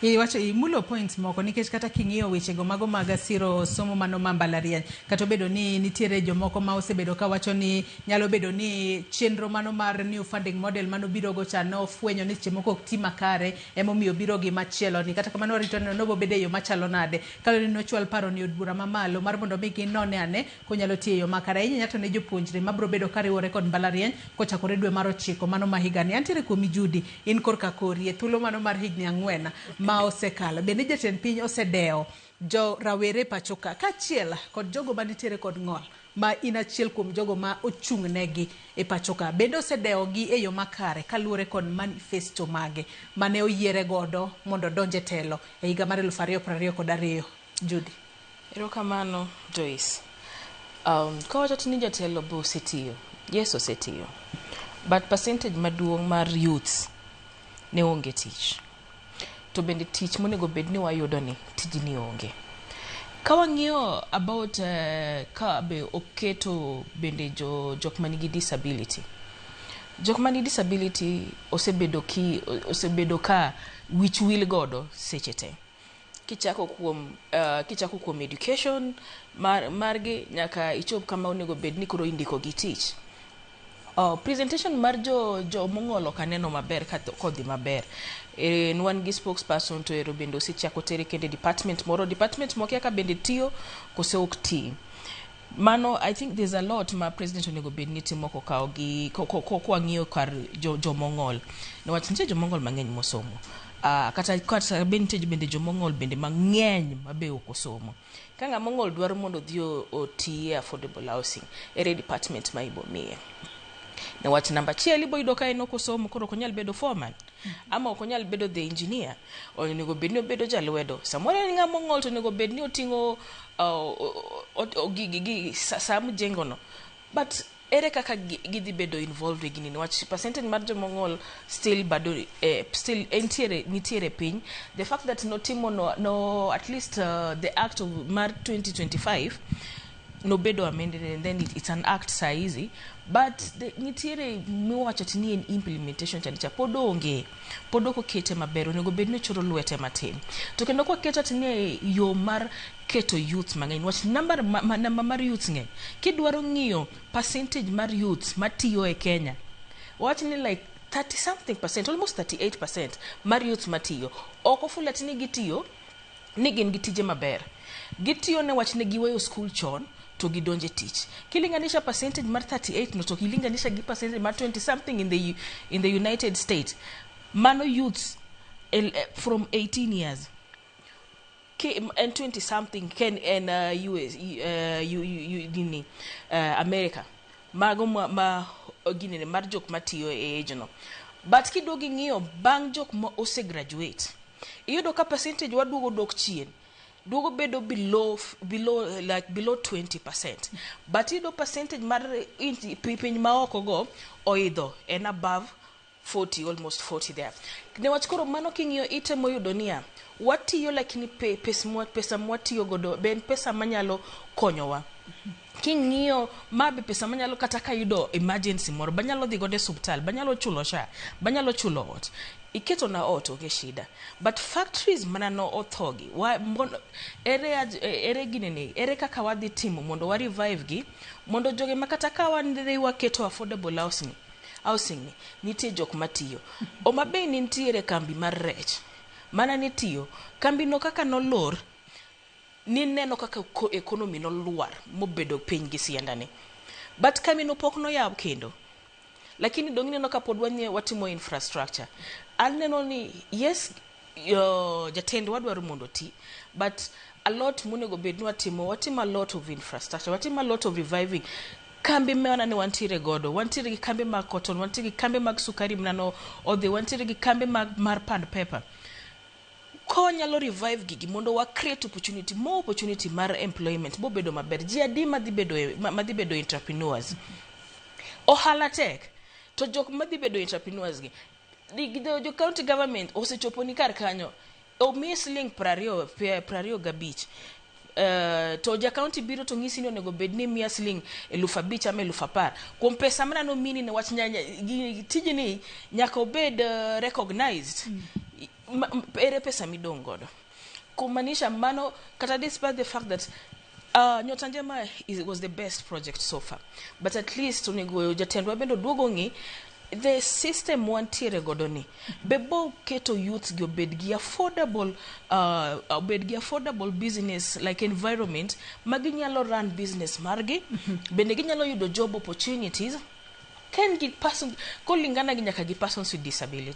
Iwacho imulo points moko nikech kata king'iyo wechego mago mag siro somo mano ma mbalariany kata obedo ni nitiere jomoko ma osebedo ka wacho ni nyalo bedo ni chenro mano mar new funding model mano birogo cha ne ofwenyo ni seche moko ok ti makare emomiyo biro gi machielo ni kata kamano warito neno ni obo bedo e yo machalo nade kaluwore ni nochwal paroni od bura mamalo mar mondo mi ginone ane Konyalo tiyo e yo makare ahinya nyato ne jopuonjre ma biro bedo ka riwore kod mbalariany kochakore dwe mar ochiko mano ma higani. Antiere kuomi Judy, in korka kori e thuolo mano mar higni ang'wen ma osekalo. Bende jatend piny osedewo jo rawere pachoka kaachiel kod jogo ma nitiere kod ng'ol ma in achiel kuom jogo ma ochung' ne gi e pachoka. Bende osedewo gi e yo makare kaluwore kod manifesto mage mane oyiere godo mondo odonj e telo e higa mar eluf ariyo prariyo kod ariyo. Judy. Erokamano Joyce. Um, kawachot ni jatelo be osetiyo, yes osetiyo. But percentage maduong' mar youths ne onge tich. To bende tich monego bed ni wayudo ni tijni onge. Ka wang'iyo about uh, ka be oketo bende jo, jok man gi disability. Jok man gi disability osebedo, ki, osebedo ka wich wil godo seche te. kichako kuom uh, kichako kuom education mar, margi nyaka ichop kama onego bed ni koro indiko gi tich Oh, presentation mar jo jo mong'olo kaneno maber kodhi maber en wan gi spokesperson to ero bende osechako tere kende department moro department mokia ka bende tiyo kose ok tii Mano, I think there's a lot ma president onego bed ni timo kokawo gi ko- ko- ko- kwang'iyo kar jo- jomong'ol niwach nitie jomong'ol mang'eny mosomo Ah, kata kata be nitie bende jomong'ol bende mang'eny ma be ok osomo ka ng'a mong'ol dwaro mondo odhi o- oti e affordable housing ere department ma ibomiye niwach namba achiel iboyudo ka en ok osomo koro ok onyal bedo foreman Ama ok onyal bedo the engineer, onego bed ni obedo jalwedo. Samoro en ng'ama ong'ol to onego bed ni oting'o gigi saa mjengono. But ere kaka gidhi bedo involved e gini niwach percentage mar joma ong'ol still bado eh, still entiere nitiere piny. The fact that notimo no, no at least uh, the act of mar 2025 nobedo amended and then it, it's an act saa hizi but the, nitiere miwacho ti ni en implementation chande cha pod onge pod ok okete maber onego bed ni ochoro lwete matin to kendo kwaketo ti ni yo mar keto youth mang'eny wach number, ma, ma, number mar youth ng'eny kidwaro ng'iyo percentage mar youth matiyo e kenya wach ni like 30 something percent almost 38 percent mar youth matiyo ok ofula ti ni gitiyo ni gin gi tije maber. Gitiyo ne wach ne giweyo skul chon to gidonjo e tich. Kilinganisha percentage mar 38 no to kilinganisha gi percentage mar 20 something in the, in the United States, mano youths el- eh, from 18 years ki en 20 something ken en uh, US, uh, U- U- U- nini, uh, America Mago ma, ma ginene mar jok matiyo e age no. But kiduogo ing'iyo bang' jok ma ose graduate, iyudo ka percentage wa duogo dok chien. Duogo bedo below, f- below, eh, like below 20%. But iyudo percentage mar inji- pi- piny ma oko go oidho en above 40 almost 40 there newach koro mano king'iyo itemo yudo niya watiyo lakini pe, pes mwa, pesa mwatiyo godo be en pesa manyalo konyowa king'iyo ma be pesa manyalo kata kayudo emergency moro banyalo dhi godo e suptal banyalo chulo sha banyalo chulo ot iketo na ot onge shida but factories mana no othogi wa, mon, ere, aj- eh, ere ginene ere kaka wadhi timo mondo wa revive gi mondo jogi makata ka wan dhi waketo affordable house ni Housing ni nitie jok matiyo. Homa Bay ne nitiere kambi mar rech mana ne tiyo. Kambi no kaka nolor, nineno kaka economy nolwar mobedo piny gi sianda ni. But kambi no pok noyaw kendo. Lakini donge ineno ka pod watimo infrastructure. Aneno ni yes. jatendwa wadwaro mondo oti but a lot monego bed ni watimo watimo a lot of infrastructure watimo a lot of reviving kambi mana ni wantiere godo wantiere gi kambi mag cotton wantiere gi kambi mag sukari mnano odhi wantiere gi kambi mag mar pand pepper konyalo revive gigi mondo wa create opportunity more opportunity mar employment bobedo maber ji adi madhi bedo e, ma- madhi bedo entrepreneurs ohala tek to jok madhi bedo entrepreneurs gi jo county government osechoponi kar kanyo omiyi siling prariyo prariyo gabich Uh, to ja county biro to ng'isi ni onego bed ni miya siling eluf abich ama eluf apar kuom pesa mana nomini ne wach nyanya tijni nyaka obed uh, recognized mm. ere pesa midong' godo kumaanisha mano kata despite the fact that Uh, nyota njema is, was the best project so far but at least onego jatendwa bende oduog ong'i the system wantiere godo ni be bo keto youth gi obed gi affordable uh, obed gi affordable business like environment ma ginyalo run business margi bende ginyalo yudo job opportunities ka en gi person kolingana gi nyaka gi persons with disability